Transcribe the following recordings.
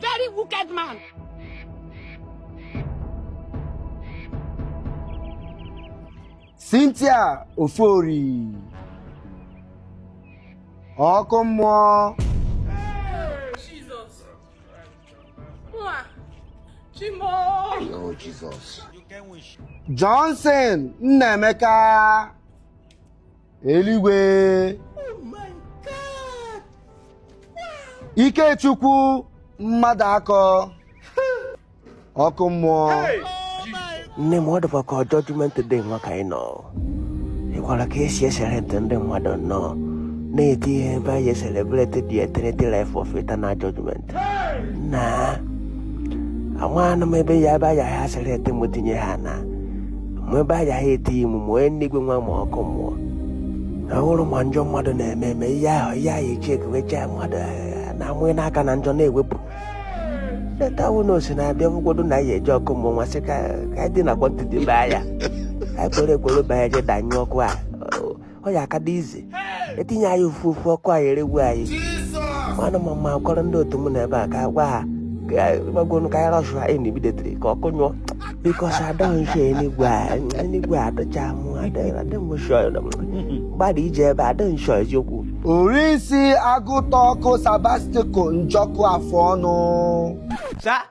Very wicked man. Cynthia Ofori ọkụ mmụọ Johnson Nnaemeka eluigwe ikechukwu mmadụakọ ọkụ mmụọ nne m ọ dịkwa ka judgment day nwa ka anyị nọ ịkwara ka e si eselekti ndị mmadụ nnọọ na-etinye ebe a ya-eselebreti the eternity life of eternal judgment nna amaghị m ebe ya ebe a ya-eselekti m tinye ha na mgbe ebe anyị ahụ eti imu ma ọ enigwe nwa ma ọkụ mmụọ ahụrụ ma njọ mmadụ na-eme eme ihe ahụ ihe ahụ echi ekewechaa mmadụ eh, na-amụghị n'aka na njọ na-ewepụ netawu na osi na-abịa ụfọdụ na anyị eji ọkụ mmụọ nwasị ka ka anyị dị na quantity baa ya anyị kwere ekwere baa ya je danyụọ ọkụ a ọ ya aka dị easy etinye anyị ofu ofu ọkụ a ya-eregbu anyị mana ma m kọrọ ndị otu m n'ebe a ka gwa ha gbakọnụ ka anyị rush ya immediately ka ọkụ nyụọ because adịghị enigwe enigwe adịcha mụ gbada ije ebe adịghị eziokwu orisi agụta ọkụ sabastiko njọkụ afọ ọnụ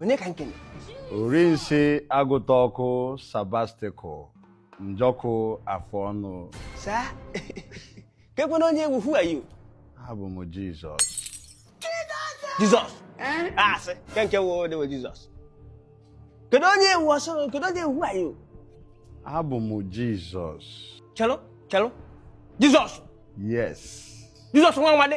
onye ka nkene orinsi agụta ọkụ sabastiko njọkụ afọ ọnụ sir kekwanụ onye ị wụ who are you abụ m jizọs jizọs eh? ah, asị ke nke wo dewe jizọs kedu onye ị wụ ọsọ kedu onye ị wụ who are you abụ m jizọs chelụ chelụ jizọs yes jizọs nwa nwa dị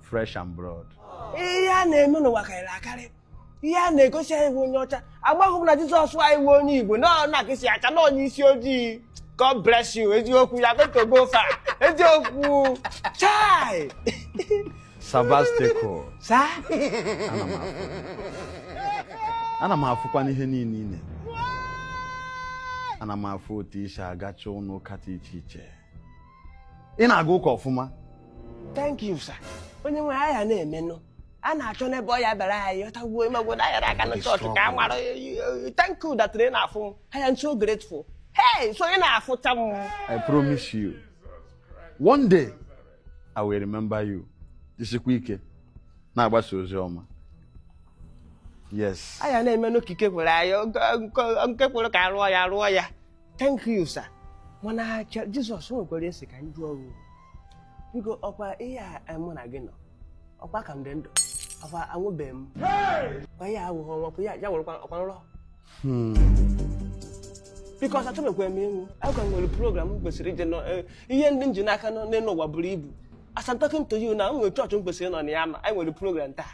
flesh and blood ihe a na-eme n'ụwa karịrị akarị ihe a na-egosi anyị bụ onye ọcha amaghị m na jizọs anyị bụ onye igbo na ọ na-akịsị acha na onye isi ojii god bless you eziokwu you are going to go far eziokwu chai sabastiko sir ana m afụ ana m afụkwa n'ihe niile ị na-eme ana m afụ otu i si agacha ụlọ ụka dị iche iche ị na-aga ụka ọfụma thank you sir onye nwe anyị ya na-emenụ a na-achọ n'ebe ọ ya bịara anyị ọtagbuo ịmagwo na anyara aka na chọọchị ka a mara thank you that ị na-afụ m I am so grateful hey so ị na-afụcha m I promise you one day I will remember you jisikwa ike na-agbasa ozi ọma yes anyị na-emenụ ka ike kwere anyị nke kwere ka a rụọ ya arụọ ya thank you sir mana acha jizọs o nwekwara ihe m sị ka m jụọ gị biko ọkwa ihe a eh, mụ na gị nọ ọkwa ka m dị ndụ ọkwa anwụbeghị m kwa ihe awụghị ọnwụ kwa ya ya nwere ọkwa nrọ biko o sir achọbekwa m ịnwụ agwa m nwere program m kwesịrị ije nọ eh, ihe ndị m ji n'aka nọ n'elu ụwa buru ibu as I'm talking to you now m nwere chọọchị m kwesịrị ịnọ na ya ma anyị nwere program taa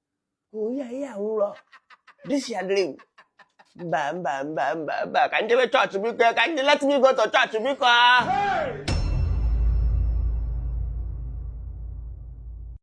onye anyị anwụrọ this your dream mba mba mba mba mba ka m jebe chọọchị biko ka m jee let me go to church biko